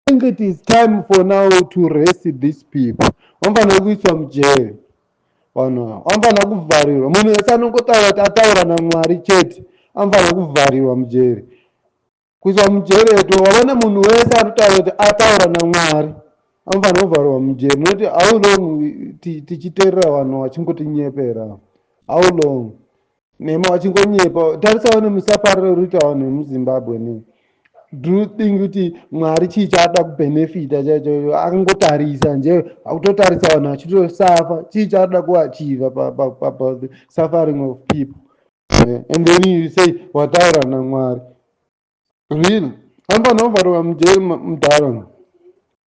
think it is time for now to rest these people vanofanira kuiswa mujere vanhu ava vanofanira kuvharirwa munhu wese anongotaura kuti ataura namwari chete anofanira kuvharirwa mujere kuiswa mujere to wavona munhu wese anotaura kuti ataura namwari anofanira kuvharirwa mujere nokuti how long tichiterera vanhu vachingotinyepera how long Nema wachingonyepa tarisa wani musaparira urita vanhu vemuzimbabwe ne do you think kuti mwari chii chaada kubenefita chaicho akangotarisa nje akutotarisa vanhu vachitosafa chii chaada kuachiva pasuffering of people eh, and then you say wataura namwari really anofanira kuvharwa mujeri mudhara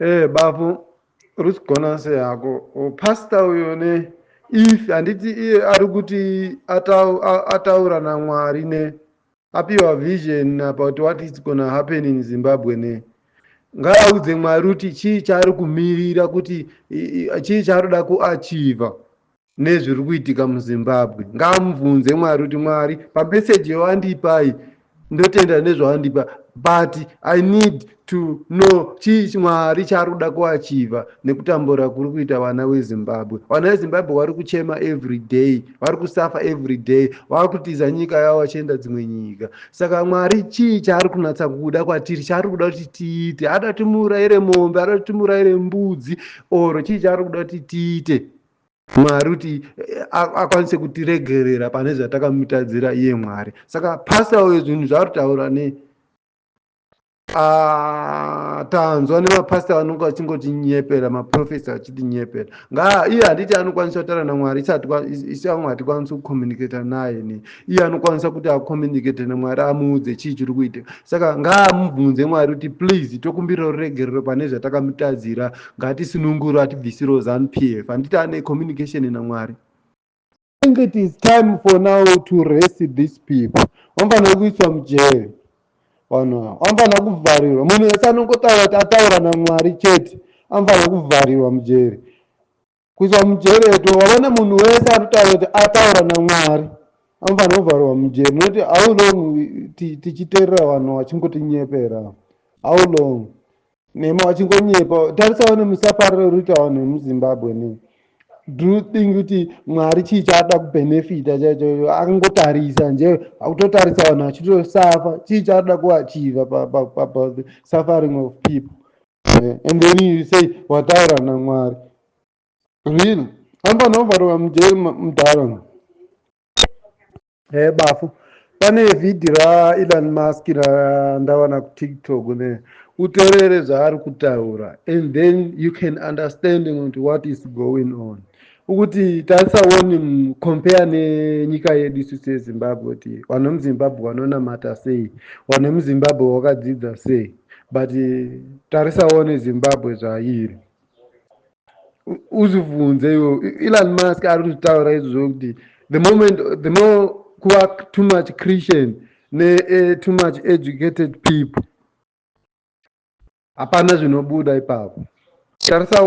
Eh bafo rusigona sei hako oh, pastor uyo ne if handiti iye ari kuti atau- a- ataura namwari ne apiwa vision about what is gonna happen in zimbabwe ne ngaaudze mwari kuti chii chaari kumirira kuti i- i- chii chaari kuda kuachiva nezviri kuitika muzimbabwe ngaamubvunze mwari kuti mwari pameseji yoandipai ndotenda nezvaandipa but i need to know chii mwari chaari kuda kuachiva nekutambura kuri kuita vana vezimbabwe vana vezimbabwe vari kuchema every day vari kusafa every day vari kutiza nyika yavo vachienda dzimwe nyika saka mwari chii chaari kunatsa kuda kwatiri chaari kuda kuti tiite ada kuti muraire mombe ada kuti muraire mbudzi or chii chaari kuda kuti tiite Mwari kuti akwanise kutiregerera pane zvatakamutadzira iye Mwari. Saka pastor uyo zvinhu zvaari kutaura ne ah, tanzwa nemapastor vanonge vachingotinyepera maprofesa vachitinyepera ngaa iye handiti anokwanisa kutaura naMwari isati kwaMwari tikwanise kucommunicata naye ne iye anokwanisa kuti acommunicate nemwari amuudze chii chiri kuitika saka ngaamubvunze mwari kuti please tokumbirawo ruregerero pane zvatakamutadzira ngatisununguro atibvisiro zanu p f handiti ane communication namwari think it is time for now to rest this people vanofanira kuiswa mujeri vanhu ava vanofanira kuvharirwa munhu wese anongotaura kuti ataura namwari chete anofanira kuvharirwa mujeri kuiswa mujeri eto wavona munhu wese anotaura kuti ataura namwari anofanira kuvharwa mujeri nokuti how long tichiterera vanhu vachingotinyepera how long nema vachingonyepa tarisawo nemusapariro urikuita vanhu vemuzimbabwe ne do you think kuti mwari chii chaada kubenefita chaichocho akangotarisa nje akutotarisa vanhu vachitosafa chii chaada kuachiva pasuffering of people eh, and then you say wataura namwari really anofanira kuvharwa mujeri mudhara e bafu pane vhidhi raelon musk randawana kutiktok ne uterere zvaari kutaura and then you can understanding kuti what is going on Ukuti tarisa one compare nenyika yedu isu sezimbabwe kuti vanhu vemuzimbabwe vanonamata sei vanhu vemuzimbabwe vakadzidza sei but tarisa one zimbabwe zvairi uzvibvunze iwo elon musk ari kuzvitaura izvozvo kuti the moment the more kuva too much christian ne eh, too much educated people hapana zvinobuda ipapo tarisa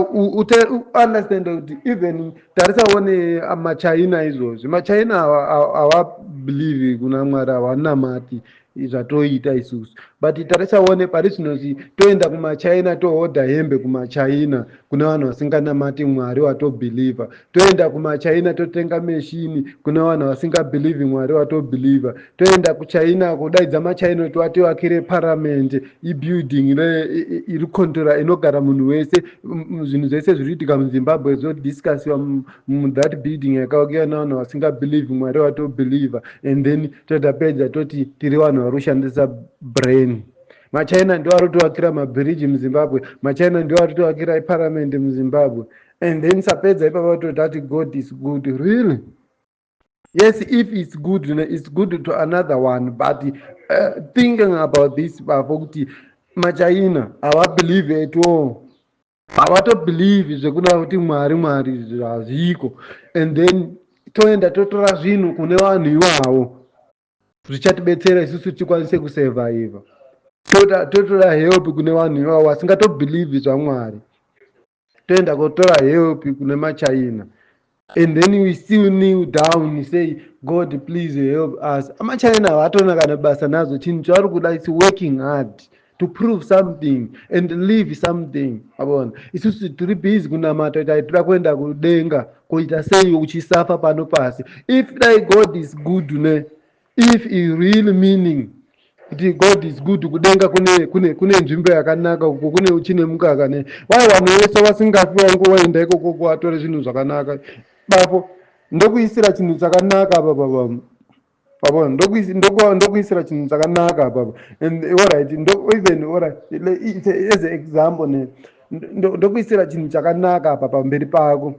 understand kuti even tarisa one ah, machina izvozvi machina hawabelieve kuna mwari hawanamati zvatoita isusu but tarisa one pari zvino toenda kumachina tohodha hembe kumachina kune vanhu vasinganamati mwari watobhilivha toenda kumachina totenga meshini kune vanhu vasingabhilivhi mwari watobhilivha toenda kuchina kudaidza machina kuti wativakire paramende ibuilding iri controla inogara munhu wese zvinhu zvese zviri kuitika muzimbabwe zvodiscusiwa muthat building yakawakiwa navanhu vasingabhilivhi mwari watobhilivha and then totapedza toti tiri vanhu vari kushandisa brain machina ndiwo ari kutovakira mabhiriji muzimbabwe machina ndiwo ari kutovakira iparamendi muzimbabwe and then sapedza ipapa vatoti ati god is good really yes if its good you know, its good to another one but uh, thinking about this bafo kuti machina havabelieve at all havatobelieve zvekuna kuti mwari mwari hazviko and then toenda totora zvinhu kune vanhu ivavo zvichatibetsera isusu tikwanise kusurviva toda totora help kune vanhu ivavo vasingatobhilivhi zvamwari toenda kotora help kune machina and then we still kneel down say god please help us amachina havatoona kana basa nazo chinhu chavari kuda is working hard to prove something and live something abona isusu tiri busy kunamata kuti tira kuenda kudenga koita sei uchisafa pano pasi if dai god is good ne if i real meaning kuti god is good kudenga kune kune kune nzvimbo yakanaka uko kune uchine mukaka ne wai vanhu vese vasingafi wangu waenda ikoko kuvatore zvinhu zvakanaka bapo ndokuisira chinhu chakanaka apa baba pabona ndokuisira chinhu chakanaka papa and orit even orit as a example ne ndokuisira chinhu chakanaka apa pamberi pako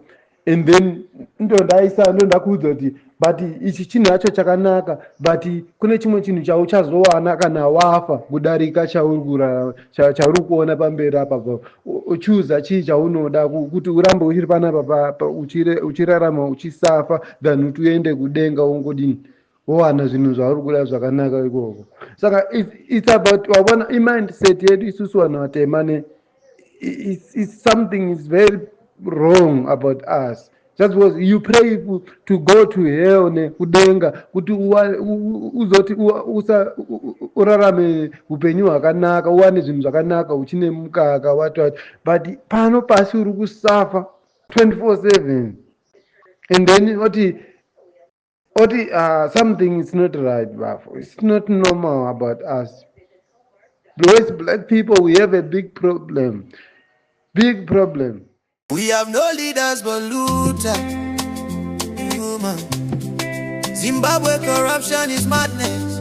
and then ndondaisa ndondakuudza kuti but ichi chinhu yacho chakanaka but kune chimwe chinhu chauchazowana kana wafa kudarika chauri kurarama Cha- chauri kuona pamberi apa pa- u- uchuza chii chaunoda ku- kuti urambe uchiri panapa pa- pa- uchire- uchirarama uchisafa than kuti uende kudenga wongodini wowana zvinhu zvauri kuda zvakanaka ikoko saka it's, it's about wavona imindset yedu isusu vanhu vatema ne it's, it's something is very wrong about us That's what you pray to go to hell ne kudenga kuti uzoti usa urarame upenyu hwakanaka uwane zvinhu zvakanaka uchine mukaka wata but pano pasi uri kusafa 24/7 and then oti oti uh, something is not right bafo it's not normal about us because black people we have a big problem big problem we have no leaders but luta zimbabwe corruption is madness